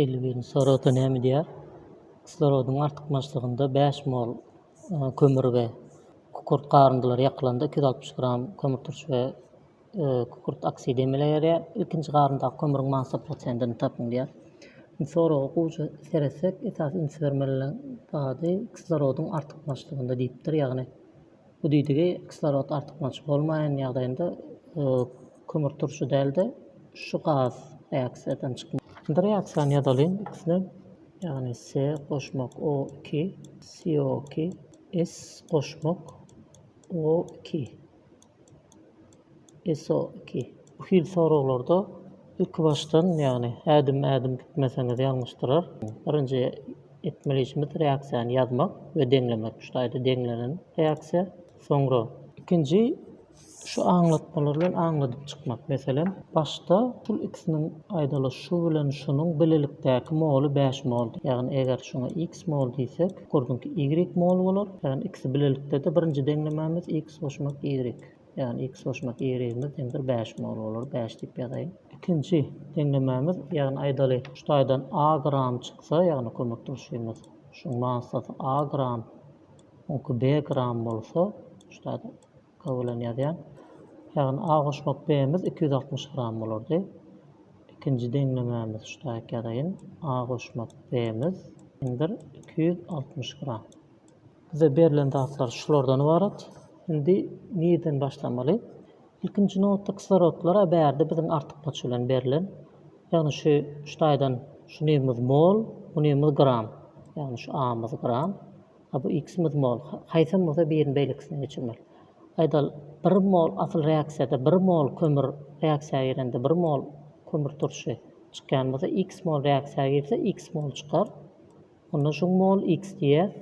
Elwin soragda näme diýýär? Kislorodyň artykmaçlygynda bäş mol kömür we kükürt garyndylar ýakylanda iki ýüz altmyş gram kömürturş we kükürt oksidi emele gelýär. Ilkinji garyndaky kömüriň massa prosentini tapyň diýýär. Indi soraga gowja seretsek, esasy üns bermeli zady kislorodyň artykmaçlygynda diýipdir. Ýagny Bu diýdigi kislorod artykmaç bolmaýan ýagdaýynda kömürturşy däl-de, şu gaz reaksiýadan çykmaly. Indi reaksiýany ýazalyň ikisinem, ýagny Se goşmak O iki, CO iki, S goşmak O iki. ISO iki. Bu hili soraglarda ilkibaşdan, ýagny ädim-ädim gitmeseňiz ýalňyş durar. Birinji etmeli işimiz reaksiýany ýazmak we deňlemek. Şu taýda deňlenen reaksiýa. Soňra. Ikinji şu aňlatmalar bilen aňladyp çykmak. Meselem, başda şul ikisiniň aýdaly şu bilen şunuň bilelikdäki moly bäş moldy. Ýagny eger şuňa X mol diýsek, bu gurduňky Y mol bolar. Ýagny ikisi bilelikde-de birinji deňlemämiz X goşmak Y. Ýagny x goşmak y yz deňdir bäş mol bolar. Bäş diýip ýazaýyn. Ikinji deňlemämiz, ýagny aýdaly, şu taýdan a gram çyksa, ýagny kömekdeşimiz şuň massasy a gram, oňki b gram bolsa, şu taýda k bilen ýazýan. Ýagny a goşmak b miz iki ýüz altmyş gram bolardy. Ikinji deňlemämiz şu taýyk ýazaýyn. A goşmak B-miz deňdir iki ýüz altmyş gram. Bize berlen zatlar şulardan ybarat. Indi nireden başlamaly? Ilkinji nobatda kislorodlar-a bärde biziň artykmaç bilen berlen. Ýagny şu şu taýdan şu nirmiz mol, bu nirmiz gram. Ýagny şu A-myz gram, a bu X-miz mol. Haýsam bolsa birini beýlekisine geçirmeli. Aýdaly, bir mol asyl reaksiýada bir mol kömür reaksiýa girende bir mol kömür turşy çykýan bolsa, X mol reaksiýa girse X mol çykar. Onda şuň mol X diýýäs.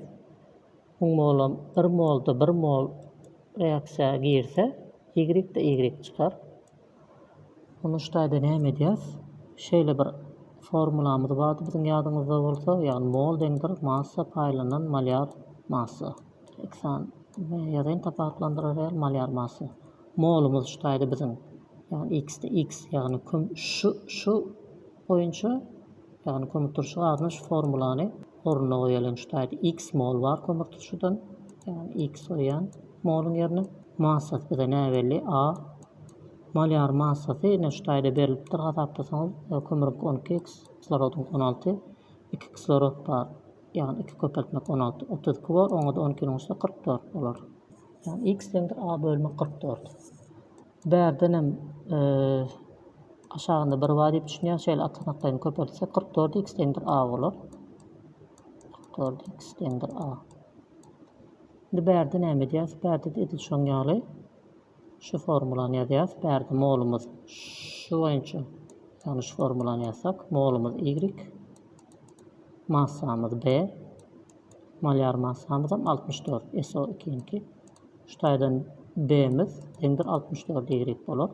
Şuň molam bir molda bir mol reaksiýa girse, Y-de Y çykar. Onda şu taýda näme edýäs? Şeýle bir formulamyz bardy biziň ýadyňyzda bolsa, ýagny mol deňdir massa paýlanan malýar massa. Eksan ýazaýyn tapawutlandyrar ýaly malýar massa. Molumyz şu taýda biziň ýagny X-de X ýagny küm şu şu boýunça, ýagny kömürturşy gazyna şu formulany ornuna goýalyň, şu taýda x mol bar kömürturşydan, ýagny x goýýan moluň ýerine, massasy bize näbelli A, molýar massasy ine şu taýda berlipdir, hasaplasaňyz, kömürüňki on iki x, kislorodyňky on alty, iki kislorod bar, ýagny iki köpeltmek on alty, otuz iki bor, oňa-da on ikini goşsa kyrk dört bolar. Ýagny x deňdir A bölmek kyrk dört. Bärdenem aşagynda bir bar diýip düşünýän. Şeýle atanaklaryny köpeltsek 44 x deňdir a bolar. 44 x deňdir a. Indi bärde näme edýäs? Bärde edil şoň ýaly şu formulany ýazýas. Bärde molumyz şu boýunça ýagny şu formulany ýazsak molumyz y massamyz b Malyar massamyzam altmyş dört SO ikiňki. Şu taýdan B-miz deňdir altmyş dört Y bolar.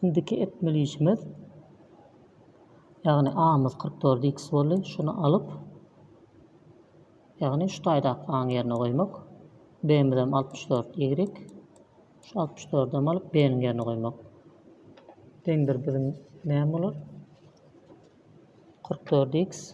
Indiki etmeli işimiz ýagny A-myz kyrk dört X boldy. Şuny alyp ýagny şu taýdaky A-nyň ýerine goýmak. B-mizem altmyş dört Y. Şu altmyş dördem alyp B-niň ýerine goýmak. Deňdir biziň näme bolar? kyrk dört X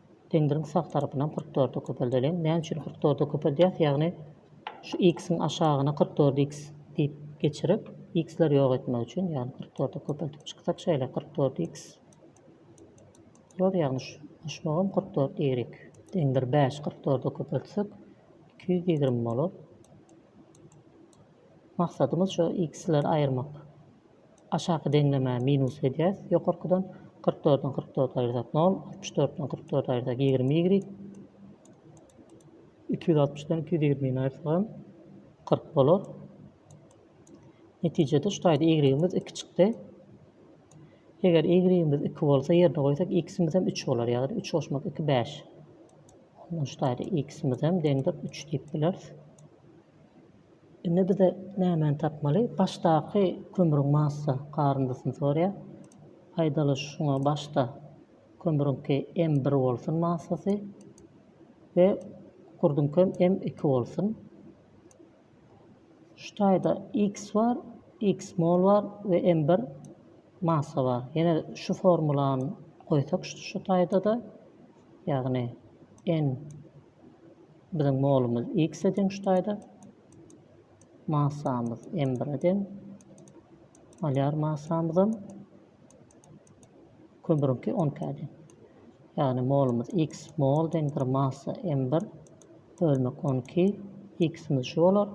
Pendiriň sag tarapynam kyrk dörde köpeldeliň. Näme üçin kyrk dörde köpeldýäs? Ýagny şu x-iň aşagyna kyrk dört x diýip geçirip, x-leri ýok etmek üçin. Ýagny kyrk dörde köpeltip çyksak şeýle kyrk dört x bolar. Ýagny şu goşmagam kyrk dört y. Deň bir bäş kyrk dörde köpeltsek iki ýüz ýigrimi bolar. Maksadymyz şu x-leri aýyrmak. Aşaky deňlemä minus edýäs ýokarkydan, kyrk dörden kyrk dört aýyrsak nol, altmyş dörtden kyrk dört aýyrsak ýigrimi y, iki ýüz altmyşdan iki ýüz ýigrimini aýyrsagam kyrk bolar. Netijede şu taýda y-imiz iki çykdy. Eger y-imiz iki bolsa ýerine goýsak x-imizem üç bolar ýagny üç goşmak iki bäş. Ondan şu taýda x-imizem deňdir üç diýip bileris. Indi bize nämäni tapmaly? Başdaky kömrüň massa garyndysyny soraýar. Aýdaly şuňa başda kömrüňki M bir bolsun massasy we gurduňkem M iki bolsun. Şu taýda X bar, X mol bar we M bir massa bar. Ýene şu formulany goýsak şu taýda-da, ýagny N Biziň molumyz x-e deň şu taýda. Massamyz m bire deň. Molýar massamyzam kömüriňki on k-ä deň. Ýagny molumyz x mol deňdir massa m bir bölmek on iki x-imiz şu bolar.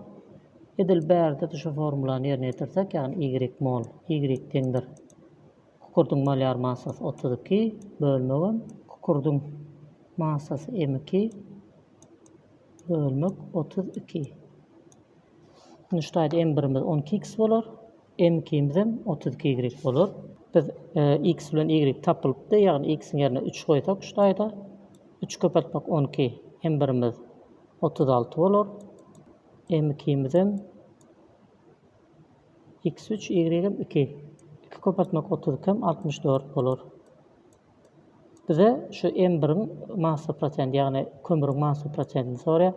Edil bärde-de şu formulany ýerine ýetirsek, ýagny y mol y deňdir Kukurdyň malýar massasy otuz iki, bölmegem, kukurdyň massasy m iki, bölmek, otuz iki. Indi şu taýda m birimiz on iki x bolar, m ikimizem otuz iki y bolar. Biz e, x bilen y tapylypdy, ýagny x-iň ýerine üç goýsak şu taýda, üç köpeltmek on iki, m birimiz otuz alty bolar, m ikimizem Iks üç, ýigregem iki. Iki köpeltmek otuz iki hem altmyş dört bolar. Bize şu m biriň massa prosenti, ýagny kömrüň massa prosentini soraýar.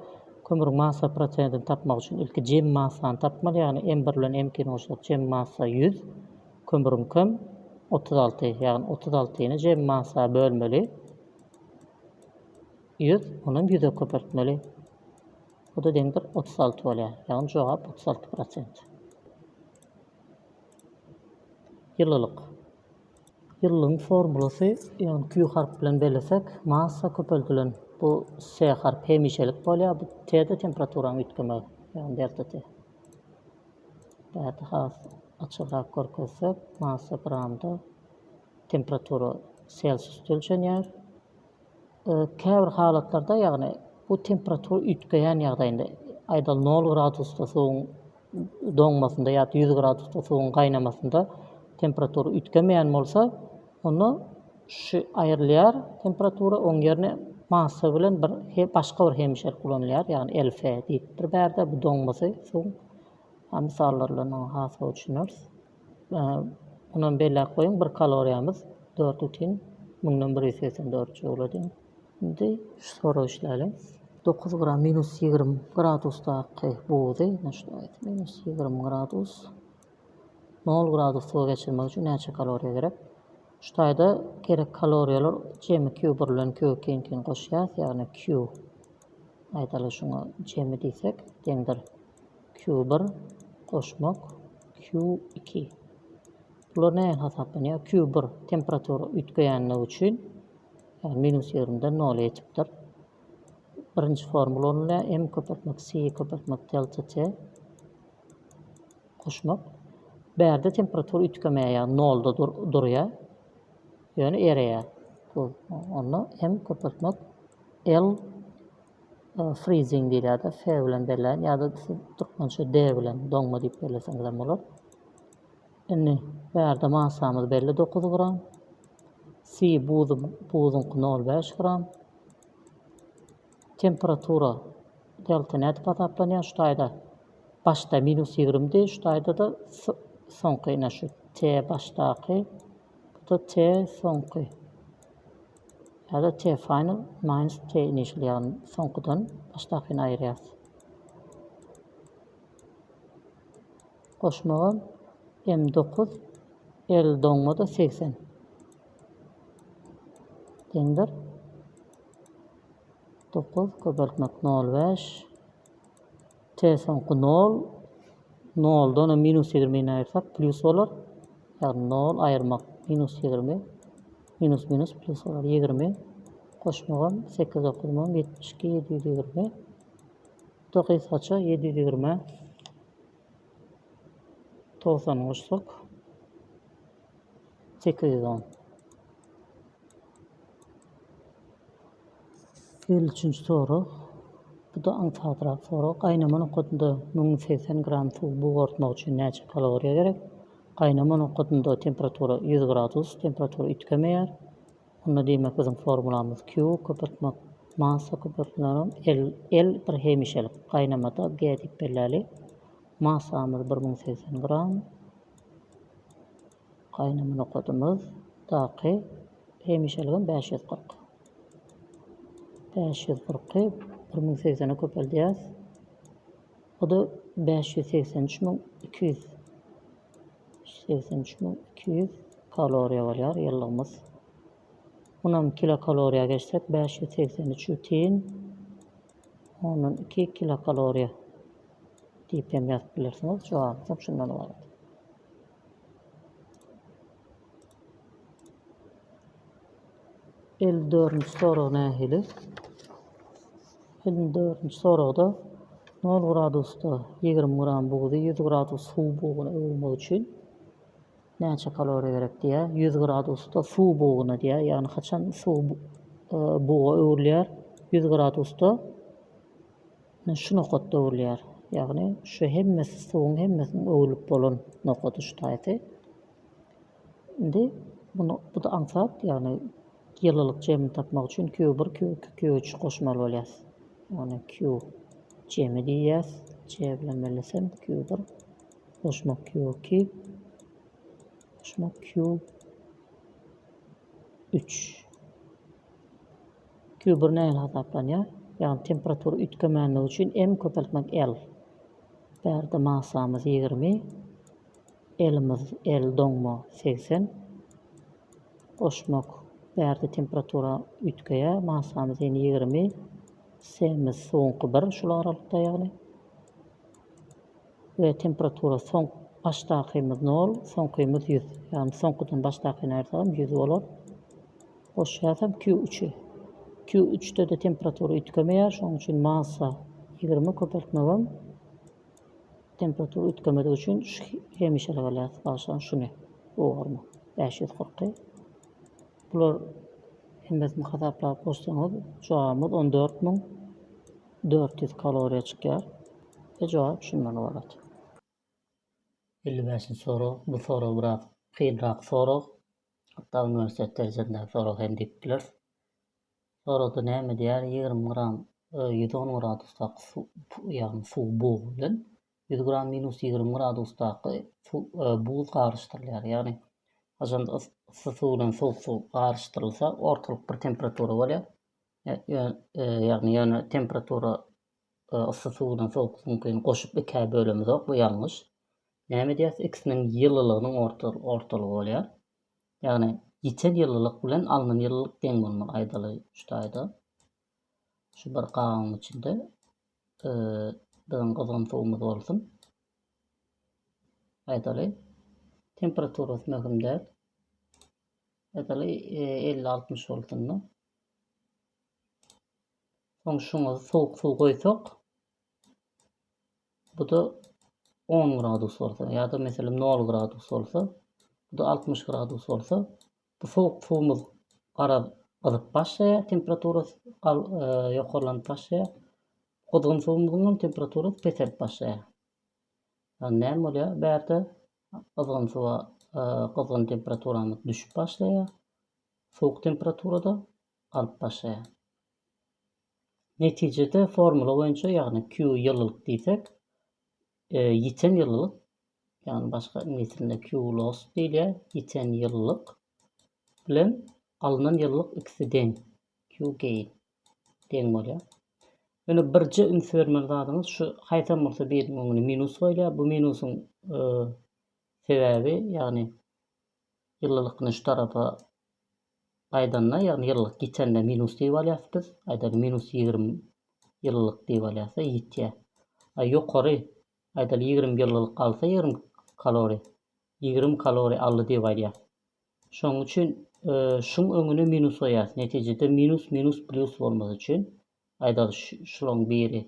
Kömrüň massa prosentini tapmak üçin ilki jem massany tapmaly, ýagny m bir bilen m ikini goşsak jem massa ýüz, kömrüňkem otuz alty, ýagny otuz altyny jem massa bölmeli. Ýüz, onam ýüze köpeltmeli. Bu da deňdir otuz alty bolýar. Ýagny jogap otuz alty prosent. Ýylylyk. Ýylylygyň formulasy, ýagny Q harpy bilen bellesek, massa köpeldilen bu S harpy hemişelik bolýar. Bu T-de temperaturanyň üýtgemegi, ýagny delta T. Bärde has açygrak görkezsek, massa gramda temperatura selsiusda ölçenýär. Käbir halatlarda, ýagny bu temperatura üýtgeýän ýagdaýynda, aýdaly nol gradusda suwuň doňmasynda ýa-da ýüz gradusda suwuň gaýnamasynda temperatura üýtgemeýän bolsa, onda şu aýrylýar temperatura, oň ýerine massa bilen bir başga bir hemişelik ulanylýar, ýagny LF diýip bir bärde, bu doňmasy suwuň, a, mysallary bilen oňa has gowy düşüneris. Munam belläp goýuň bir kaloriýamyz dört butin müňden bir ýüz segsen dört joule diýen. Indi şu soragy işläliň. Dokuz gram minus ýigrimi gradusdaky buzy, minus ýigrimi gradus, nol gradus suwa geçirmek üçin näçe kaloriýa gerek? Şu taýda gerek kaloriýalar jemi Q bir bilen Q ikiňkini goşýas, ýagny Q aýdaly şuňa jemi diýsek deňdir. Q bir goşmak Q iki. Bular nähili hasaplanýar? Q bir temperatura üýtgeýänligi üçin ýagny minus ýigrimiden nola ýetipdir. Birinji formula ulanylýar. M köpeltmek C köpeltmek delta T goşmak. Bärde temperatura üýtgemeýär, ýagny nolda dur, durýar. Ýöne ereýär. Bu onda M köpeltmek L Freezing diýilýärdi. F bilen belläýin ýa-da siz türkmençe D bilen doňma diýip belleseňiz hem bolar. Indi bärde massamyz belli 9 gram. Si buzy buzuňky 0,5 gram. Temperatura delta nädip hasaplanýar? Şu taýda başda minus 20 di, şu taýda da soňky ine şu T başdaky, bu da T soňky. Ýa-da Te Final Minus Te Initial ýagny soňkudan başdakyny aýyrýas. Goşmaga M dokuz L doňmada segsen deňdir. Dokuz köpeltmek nol beş. Te soňky nol, noldan hem minus ýigrimini aýyrsak, plýus bolar. Ýagny nol aýyrmak minus ýigrimi, minus minus plýus bolar. Ýigrimi goşmagam sekiz dokuzmam ýetmiş iki ýedi ýüz ýigrimi. Bu da gysgaça ýedi ýüz ýigrimi togsany goşsak. sekiz ýüz on. Elli üçünji sorag. Bu da aňsadrak sorag. Gaýnama nokadynda müň ýüz segsen gram suw bugartmak üçin näçe kaloriýa gerek? Gaýnama nokadynda temperatura ýüz gradus, temperatura üýtgemeýär. Onda diýmek biziň formulamyz Q köpeltmek massa köpeltmelerim L, L bir hemişelik gaýnamada G diýip belläli. Massamyz bir müň segsen gram. Gaýnamyna kodumyz daky hemişeligem bäş ýüz kyrk. Bäş ýüz kyrky bir müň segsene köpeldýäs. O-da bäş ýüz segsen üç müň iki ýüz. Segsen üç müň iki ýüz kaloriýa bolýar ýyllygymyz. Munam kilokaloriýa geçsek bäş ýüz segsen üç ýüz tiýin. Ondan iki kilokaloriýa diýip hem ýazyp bilersiňiz. Jogaby hem şundan ybarat. Elli dördünji sorag nähili? Elli dördünji soragda 0 gradusda 20 gram bugdy 100 gradus suw buguna öwürmek üçin Näçe kaloriýa gerek diýýä. Ýüz gradusda suw buguna diýýä. Ýagny haçan suw buga öwrülýär? Ýüz gradusda şu nokatda öwrülýär. Ýagny şu hemmesi suwuň hemmesiniň öwrülip bolan nokady şu taýsy. Indi bunu bu da aňsat, ýagny ýylylyk jemini tapmak üçin Q1, Q2, Q3 goşmaly bolýar. Ýagny Q jemi diýýäs. C bilen bellesem Q1, Goşmak QQ Goşmak Q üç. Q bir nähili hasaplanýar? Ýagny temperatura üýtgemänligi üçin M köpeltmek L. Bärde massamyz ýigrimi, L-imiz L doňma segsen. Goşmak bärde temperatura üýtgeýär, massamyz ýene ýigrimi, S-imiz suwuňky bir şul aralykda ýagny. We temperatura soňk başdakymyz nol soňkymyz ýüz ýagny soňkudan başdakyny aýyrsagam ýüz bolar. Goşýasam Q üçi. Q üçdede temperatura üýtgemeýär şoň üçin massa ýigrimi köpeltmegem temperatura üýtgemedigi üçin hemişelik alýas bagşlaň şuny. Bu bormy? Bäş ýüz kyrky. Bular hemmesini hasaplap goşsaňyz jogabymyz on dört müň dört ýüz kaloriýa çykýar we jogap şundan ybarat. Elli bäşinji sorag, bu sorag biraz kynrak sorag, hatda uniwersitet derejesindäki sorag hem diýip bileris. Soragda näme diýýär, ýigrimi gram ýüz on gradusda suw, ýagny suw bugy bilen Ýüz gram minus ýigrimi gradusdaky suw, buz garyşdyrylýar. Ýagny, haçanda yssy suw bilen sowuk suw garyşdyrylsa, ortalyk bir temperatura bolýar. Ýagny, ýöne temperatura yssy suw bilen sowuk suwuňkyny goşup ikä bölemizok, bu ýalňyş. Näme edýäris? Ikisiniň ýylylygynyň ortalygy bolýar. Ýagny, ýiten ýylylyk bilen alnan ýylylyk deň bolmaly aýdaly şu taýda. Şu bir gabyň içinde biziň gyzgyn suwumyz bolsun. Aýdaly, temperaturasy möhüm däl. Aýdaly, 50-60 bolsun-da. Soň şuňa sowuk suw goýsak, bu da 10 gradus bolsa ýa-da meselem 0 gradus bolsa, bu da 60 gradus bolsa, Bu sowuk suwumyz garaz gyzyp başlaýar, temperaturasy ýokarlanyp başlaýar. Gyzgyn suwumyzyň hem temperaturasy peselip başlaýar. Ýagny näme bolýar? Bärde gyzgyn suwa gyzgyn temperaturamyz düşüp başlaýar. Sowuk temperaturada galyp başlaýar. Netijede formula boýunça, ýagny Q ýylylyk diýsek, Ýiten ýylylyk, ýagny başga iňlis dilinde Q loss diýilýär, ýiten ýylylyk bilen alnan ýylylyk ikisi deň, Q gain, deň bolýar. Ýöne birje üns bermeli zadyňyz şu haýsam bolsa biriniň öňüne minus goýulýar. Bu minusyň sebäbi, ýagny Ýylylyk nyş tarapa gaýdanda, ýagny ýylylyk ýitende minus diýip alýas biz. Aýdaly minus ýigrimi ýylylyk diýip alýasda ýitýä. A ýokary, aýdaly ýigrimi ýylylyk galsa ýigrimi kalori, ýigrimi kalori aldy diýip aýdýas. Şoň üçin şuň öňüne minus goýýas. Netijede minus minus plýus bolmasy üçin aýdaly şulaň biri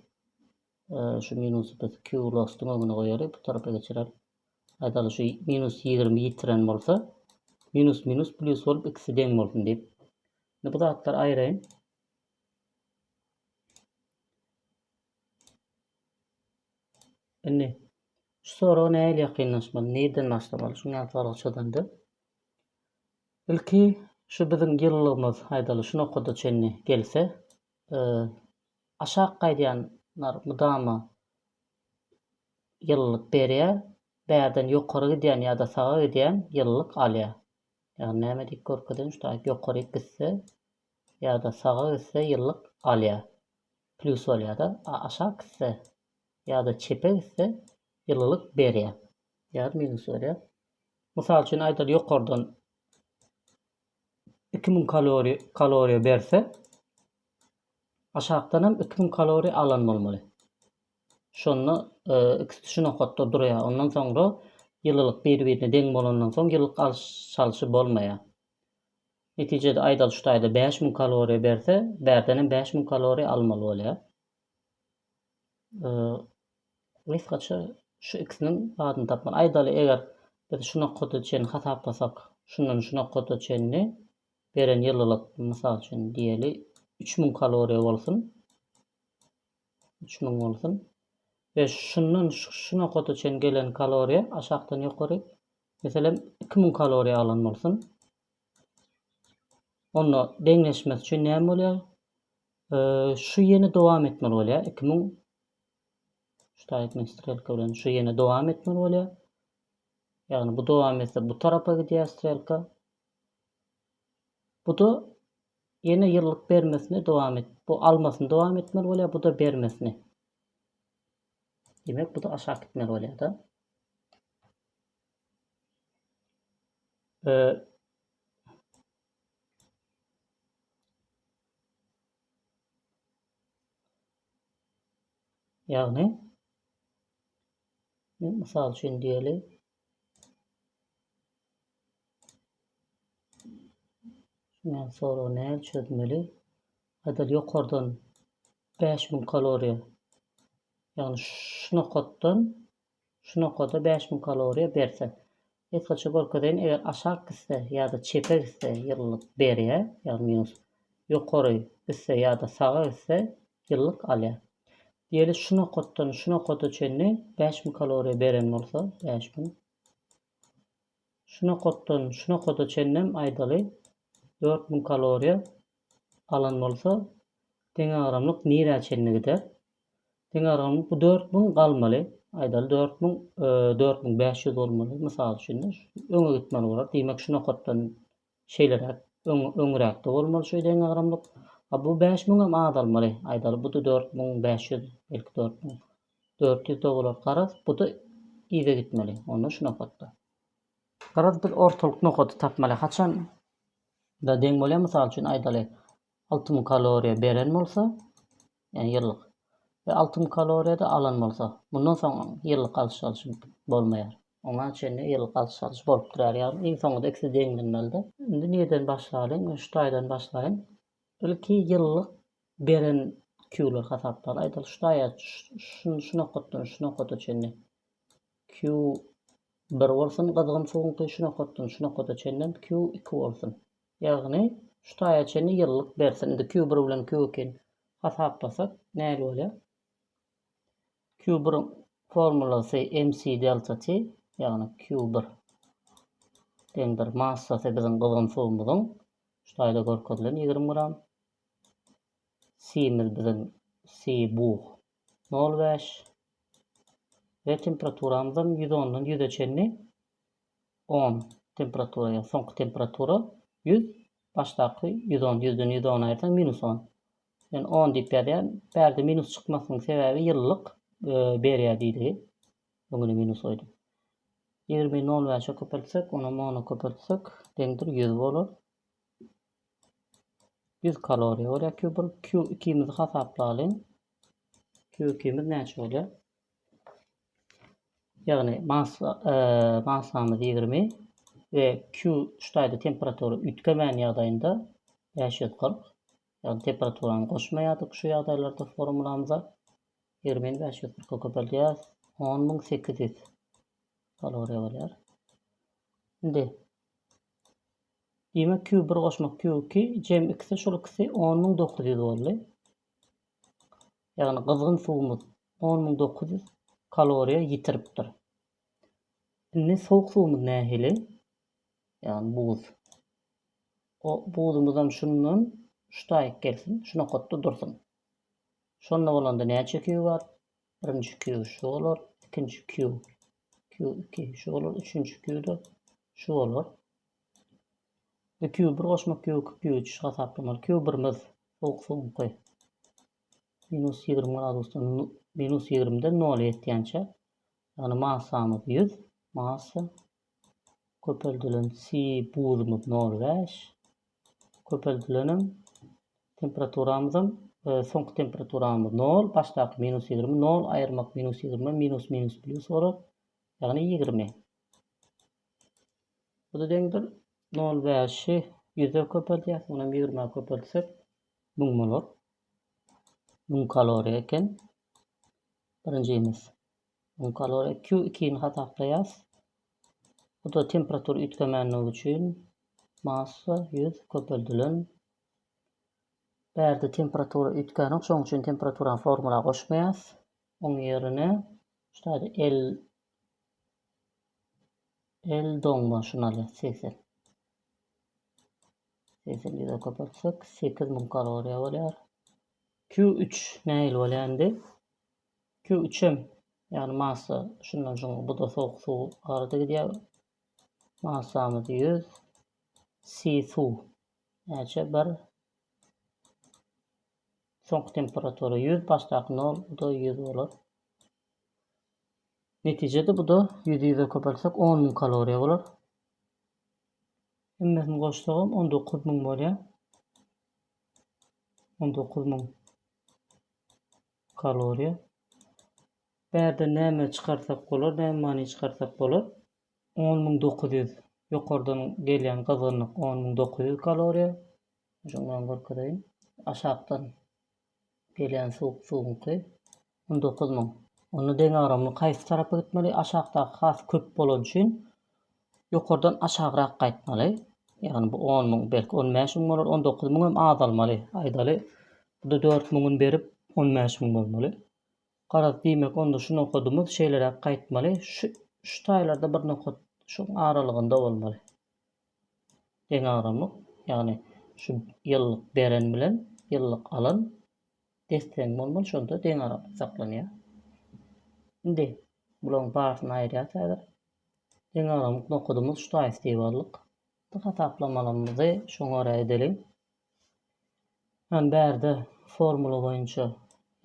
şu minusy biz Q lostuň öňüne goýaly, bu tarapa geçireli. Aýdaly şu minus ýigrimi ýitiren bolsa minus minus plus bolup ikisi deň bolsun diýip. Indi bu zatlary aýraýyn. Indi şu soraga nähili ýakynlaşmaly, nireden başlamaly? Şuň ýaly sorag çözende ilki şu biziň ýyllygymyz aýdaly şu nokada çenli gelse, e, aşak gaýdýanlar mydama ýyllyk berýär, bärden ýokary gidýän ýa-da saga gidýän ýyllyk alýar. Ýagny näme diýip görkezeýin, şu taýyp ýokaryk gitse ýa-da saga gitse ýyllyk alýar. Plýus bolýar-da. A aşak gitse ýa-da çepe gitse ýyllylyk berýär. Ýa-da minus berýär. Mysal üçin aýdaly ýokardan 2000 kaloriýa kaloriýa berse aşakdanam 2000 kaloriýa alan bolmaly. Şonda ikisi şu nokatda durýar. Ondan soňra ýylylyk bir-birine deň bolandan soň ýylylyk alyş-çalyşy bolmaýar. Netijede aýdal şu taýda bäş müň kaloriýa berse, bärdenem bäş müň kaloriýa almaly bolýar. Gysgaça şu ikisiniň adyny tapmaly. Aýdaly eger biz şu nokada çenli hasaplasak, şundan şu nokada çenli beren ýylylyk, mysal üçin diýeli, üç müň kaloriýa bolsun. Üç müň bolsun. We şundan şu nokata çen gelen kaloriýa aşakdan ýokary meselem iki müň kaloriýa alan bolsun. Onda deňleşmesi üçin näme bolýar? Şu ýene dowam etmeli bolýar. Iki müň ştaýtmen strelka bilen şu ýene dowam etmeli bolýar. Ýagny bu dowam etse bu tarapa gidýär strelka. Bu-da ýene ýyllyk bermesini dowam et. Bu almasyny dowam etmeli bolýar, bu-da bermesini. Demek, bu-da aşak gitmeli bolýar-da. Ee, Ýagny, men mysal üçin diýeli. Şuňa soragy nädip çözmeli? Aýdaly ýokardan bäş müň kaloriýa. Ýagny şu nokatdan şu nokada bäş müň kaloriýa berse. Esgaça görkezeýin, eger aşak gitse ýa-da çepe gitse ýylylyk berýär, ýagny minus. Ýokary gitse ýa-da saga gitse ýylylyk alýar. Diýeli şu nokatdan şu nokada çenli bäş müň kaloriýa beren bolsa, bäş müň. Şu nokatdan şu nokada çenlem aýdaly dört müň kaloriýa alan bolsa deňagramlyk nirä çenli gider? Deňagramlyk bu dört müň galmaly. Aýdaly dört müň dört müň bäş ýüz bolmaly. Mysal üçin öňe gitmeli bolar. Diýmek şu nokatdan Şeýleräk, öň, öňräkde bolmaly şu deňagramlyk. A bu bäş müňem azalmaly. Aýdaly, bu-da dört müň bäş ýüz, belki dört müň dört ýüz-de bolar. Garaz, bu-da yza gitmeli. Onda şu nokatda. Garaz, biz ortalyk nokady tapmaly. Haçan, da deň bolýar, mysal üçin, aýdaly, alty müň kaloriýa beren bolsa, ýagny ýyllyk we alty müň kaloriýa-da alan bolsa, mundan soň ýyllyk alşy alşy bolmaýar. Oňa çenli ýyllyk alşy alşy bolup durýar. Ýagny iň soňunda ikisi deňlenmeli-de. Indi nireden başlalyň? Men şu taýdan başlaýyn. Ilki ýyllyk beren Q-lar hasaplaly. Aýdaly şu taýa şu nokatdan şu nokata çenli Q bir bolsun gyzgyn suwuňky şu nokatdan şu nokata çenlem Q iki bolsun. Ýagny, şu taýa çenli ýyllyk bersin. Indi Q bir bilen Q ikini hasaplasak nähili bolýar? Q biriň formulasy MC delta T, ýagny Q bir deňdir massasy biziň gyzgyn suwumyzyň, şu taýda görkezilen ýigrimi gram, C-miz biziň C bug nol bäş we temperaturamyzam ýüz ondan ýüze çenli on, temperatura ýa soňky temperatura, ýüz, başdaky ýüz on, ýüzden ýüz on aýyrsaň, minus on. Men on diýip ýazýan. Bärde minus çykmasynyň sebäbi ýyllyk berýär diýdigi. Öňüne minus goýdum. Ýigrimi nol bäşe köpeltsek, onam ona köpeltsek, deňdir ýüz bolar. Ýüz kaloriýa bolýar Q bir. Q ikimizi hasaplalyň. Q ikimiz näçe bolýar? Ýagny mas massamyz ýigrimi we Q ştaýda temperatura üýtgemän ýagdaýynda bäş ýüz kyrk. Ýagny temperaturany goşmaýardyk şu ýagdaýlarda formulamyza. Ýigrimi bäş ýüz kyrka köpeldýäris. On müň sekiz ýüz kaloriýa bolýar. Indi Diýmek Q bir goşmak Q iki jem ikisi şol ikisi on müň dokuz ýüz boldy. Ýagny gyzgyn suwumyz on müň dokuz ýüz kaloriýa ýitiripdir. Indi sowuk suwumyz nähili? Ýagny buz. O buzumyzam şundan şu taýyk gelsin, şu nokatda dursun. Şonda bolanda näçe Q bar? Birinji Q şu bolar, ikinji Q, Q iki şu bolar, üçünji Q-de şu bolar. Indi Q bir goşmak ýok Q üç hasaplamaly Q birimiz sowuk soňky minus ýigrimi gradusdan minus ýigrimiden nola ýetýänçä ýagny massamyz ýüz massa köpeldilen C buzymyz nol bäş köpeldilenem temperaturamyzam e, soňky temperaturamyz nol başdaky minus ýigrimi nol aýyrmak minus ýigrimi minus minus plýus bolar ýagny ýigrimi Bu da deňdir. Nol bäşi ýüze köpeltýäs. Munam ýigrime köpeltsek müň bolar. Müň kaloriýa eken. Birinjimiz. Müň kaloriýa Q2-ni hasaplaýas. Bu da temperatur üýtgemänligi üçin massa ýüz köpeldilen. Bärde temperatura üýtgänok, şoň üçin temperaturany formula goşmaýas. Oň ýerine ştaýda L El doňmaşynaly segsen. Segsen ýüze köpeltsek, sekiz müň kaloriýa bolýar. Q üç nähili bolýar indi? Q üç hem, ýagny massa şundan şuňa bu da sowuk suw arada gidýär. Massamyz ýüz. C suw. Näçe? Bir. Soňky temperatura ýüz, başdaky nol, bu-da ýüz bolar. Netijede bu-da ýüzi ýüze köpeltsek on müň kaloriýa bolar. Hemmesini goşsagam on dokuz müň bolýar. On dokuz müň kaloriýa. Bärde näme çykarsak bolar, näme many çykarsak bolar? On müň dokuz ýüz ýokardan gelýän gyzgynlyk on müň dokuz ýüz kaloriýa. Şonuň bilen görkezeýin. Aşakdan gelýän suwuk suwuňky on dokuz müň. Onda deňagramly haýsy tarapa gitmeli? Aşakdaky has köp bolany üçin ýokardan aşagrak gaýtmaly. Ýagny bu on müň, belki on bäş müň bolar, on dokuz müň hem azalmaly. Aýdaly, bu-da dört müňüni berip, on bäş müň bolmaly. Garaz, diýmek, onda şu nokadymyz şeýleräk gaýtmaly. Şu şu taýlarda bir nokat şuň aralygynda bolmaly. deňagramlyk, ýagny şu ýyllyk beren bilen ýyllyk alan desseň bolmaly, şonda deňagramlyk saklanýar. Indi bularyň barysyny aýyrýas häzir. Deňagramlyk nokadymyz ştaýs diýip aldyk. Bu hasaplamalymyzy şoňa görä edeliň. Hany bärde formula boýunça,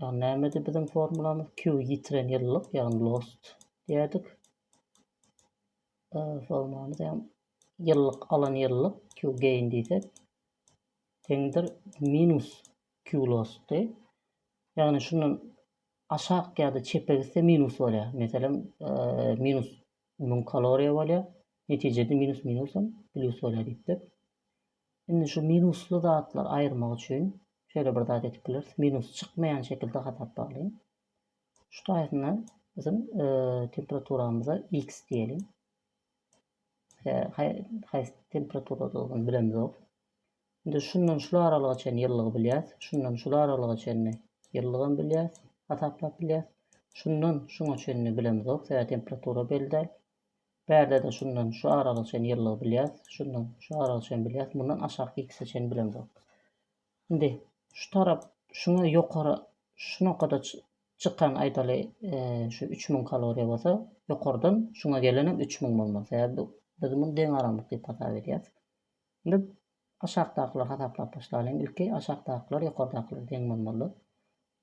ýagny nämedi biziň formulamyz? Q ýitiren ýyllyk, ýagny lost diýerdik. Formamyz hem ýyllyk alan ýyllyk Q gain diýsek teňdir minus Q lossdy. Ýagny şundan aşak ýa-da çepe gitse minus bolýar. Meselem minus 1000 kaloriýa bolýar. Netijede minus minusam plus bolýar diýipdir. Indi şu minusly zatlar aýyrmak üçin şöyle bir zat edip bileris. Minus çykmayan şekilde hasaplagyn. Şu taýyna biziň temperaturamyza X diýeliň. Haýsy temperaturadygyny bilemzok. Indi şundan şu aralyga çenli ýyllygy bilýäs. Şundan şu aralyga çenli ýyllygam bilýäs, hasaplap bilýäs. Şundan şuňa çenli bilemzok, sebäbi temperatura belli däl. Bärde-de şundan şu aralyga çenli ýyllygy bilýäs, şundan şu aralyga çenli bilýäs, mundan aşaky X-e çenli bilemzok. Indi şu tarap şuňa ýokary şu nokada çykan aýdaly şu üç müň kaloriýa bolsa ýokardan şuňa gelenem üç müň bolmaly sebäbi bu biz muny deňaramlyk diýip hasap edýäs. Indi aşakdakylary hasaplap başlalyň ilki aşakdakylar ýokardakylara deň bolmaly.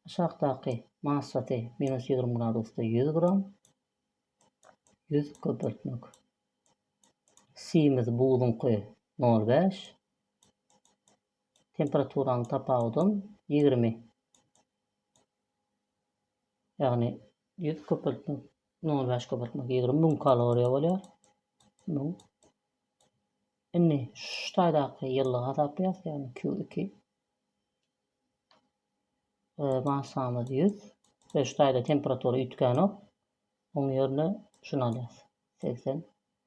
Aşakdaky massasy minus ýigrimi gradusda ýüz gram ýüz köpeltmek simiz buzuňky nol bäş Temperaturanyň tapawudam ýigrimi. Ýagny ýüz köpeltmek, nol bäş köpeltmek ýigrimi müň kaloriýa bolýar. Müň. Indi şu taýdaky ýyllygy hasaplaýas, ýagny Q iki. Massamyz ýüz. Şu taýda temperatura üýtgänok. Oň ýerine şuny alýas. Segsen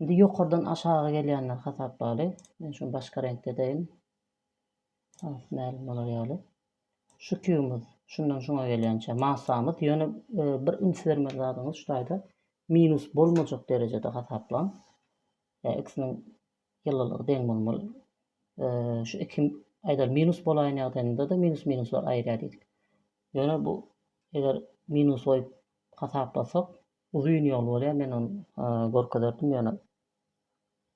Indi ýokardan aşaga gelýänleri hasaplaly. Men şuny başga reňkde edeýin. Has mälim bolar ýaly. Şu kýubymyz şundan şuňa gelýänçä massamyz, ýöne bir üns bermeli zadyňyz şu taýda minus bolmajak derejede hasaplaň. Ýa x-niň ýylylygy deň bolmaly. Şu iki aýdaly minus bolaýan ýagdaýynda-da minus minuslar aýyrýar diýdik. Ýöne bu eger minus goýup hasaplasak, Uzyn ýol bolýar men ony görkezerdim ýöne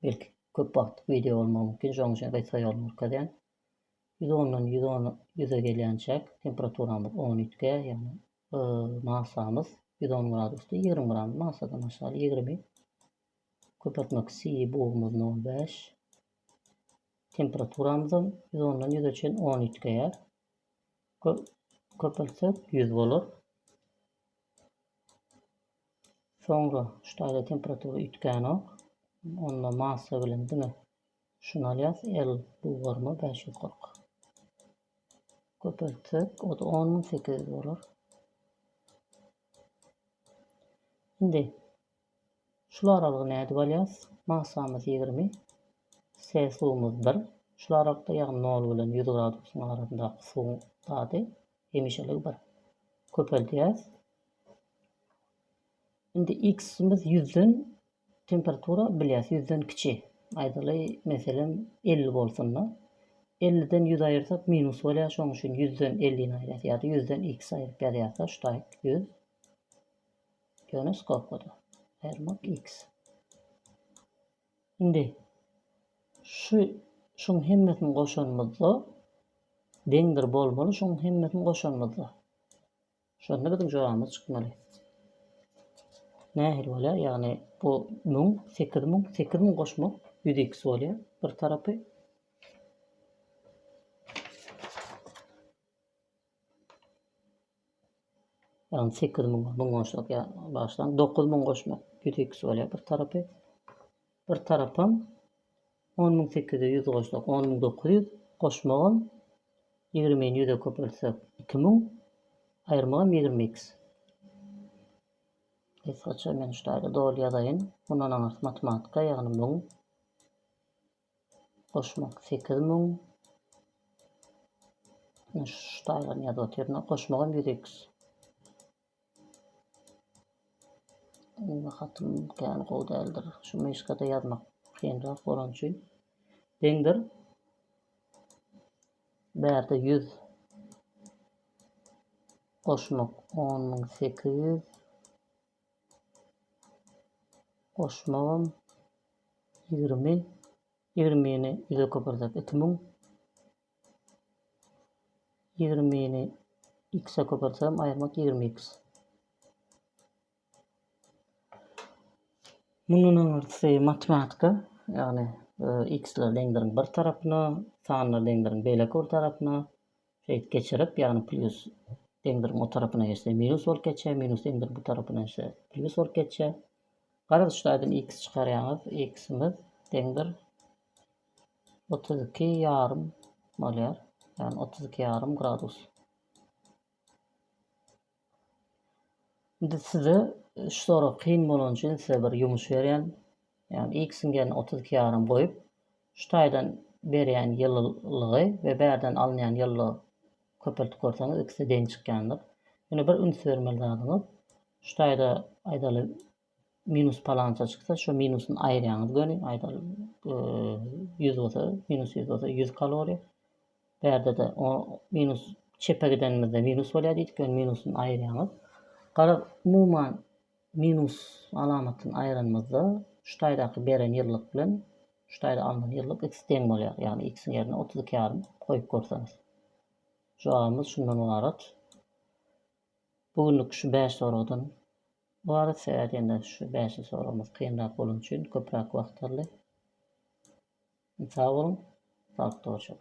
belki köp wagtlyk wideo bolmagy mümkin şonuň üçin gysga ýoluny görkezýän. Ýüz ondan ýüz on ýüze gelýänçäk temperaturamyz on üýtge ýagny masamyz ýüz on gradusda ýigrimi gram masadan aşaly ýigrimi köpeltmek siýi bugumyz nol bäş temperaturamyzam ýüz ondan ýüze çen on üýtgeýär köpeltsek ýüz bolar Soňra şu taýda temperatura üýtgänok. Onda massa bilen diňe şuny alýas. L bugarma 540. Köpeltsek, o da 10800 bolar. Indi Şul aralygy nädip alýas? Masamyz ýigrimi. Celsumyz bir. Şul aralykda ýagny nol bilen ýüz gradusyň arasyndaky suwuň dady hemişelik bir. Köpeldýäs. Indi x-imiz ýüzden temperatura bilýäs ýüzden kiçi. Aýdaly meselem elli bolsunda. Elliden ýüz aýyrsak minus bolýar şoň üçin ýüzden ellini aýyrýas ýada ýüzden x aýryp ýazýas da ştaýk ýüz. Ýunus gopady. Ermak X. Indi şu şuň hemmesini goşanymyzda deňdir bolmaly, şuň hemmesini goşanymyzda. Şonda biziň jogabymyz çykmaly. Nähili bolýar? Ýagny bu 1000, 8000, 8000 goşmak 100x bolýar bir tarapy. Ýagny sekiz müň müň goşsak ýa bagşylaň dokuz müň goşmak ýüz ikisi bolýar bir tarapy. Bir tarapam on müň sekiz ýüz goşsak on müň dokuz ýüz goşmagam ýigrimini ýüze köpeltsek iki müň aýyrmagam ýigrimi iks. Gysgaça men şu taýda doly ýazaýyn. Mundan aňyrsy matematika ýagny müň. Goşmak sekiz müň. Ine şu taýdan ýazyp otyr. Goşmagam ýüz eks. Indi hatym kän gowy däldir. Şu myşkada ýazmak kynrak bolan üçin. Deňdir. Bärde ýüz. Goşmak on müň sekiz ýüz. Goşmagam ýigrimi. Ýigrimini ýüze köpürtsek iki müň. Ýigrimini x-e köpürtsem aýyrmak ýigrimi x. Mundan aňyrsy matematika, ýagny x-leri deňleriň bir tarapyna, sanlary deňleriň beýleki bir tarapyna, Şeýdip geçirip, ýagny plýus deňdir o tarapyna geçse minus bolup geçýär, minus deňdir bu tarapyna geçse plýus bolup geçýär. Garaz şu taýdan x çykarýaňyz, x-imiz deňdir 32 ýarym bolýar. Ýagny 32 ýarym gradus. Indi size üç sorag kyn bolan üçin size bir ýumuş berýän. Ýagny ilk siňgerini otuz iki ýarym goýup, şu taýdan berýän ýylylygy we bärden alynýan ýylylygy köpeltip görseňiz ikisi deň çykýandyr. Ýöne bir üns bermeli zadyňyz şu taýda aýdaly Minus palança çyksa şu minusyn aýyrýaňyz göni aýdaly 100 bolsa minus 100 bolsa 100 kaloriýa. Bärde de o minus çepe gidenimizde minus bolýar diýdik ýöne minusyn aýyrýaňyz. Gara umuman minus alamatyny aýyranymyzda şu taýdaky beren ýyllyk bilen şu taýda alnan ýyllyk x deň bolýar. Ýagny x-iň ýerine 32 ýarym goýup görseňiz. Jogabymyz şundan ybarat. Bu günlük şu bäş soragdan ybarat sebäbi diýende şu bäşi soragymyz kynrak bolany üçin köpräk wagt aldy. Sag boluň, saglyk dogry çyk.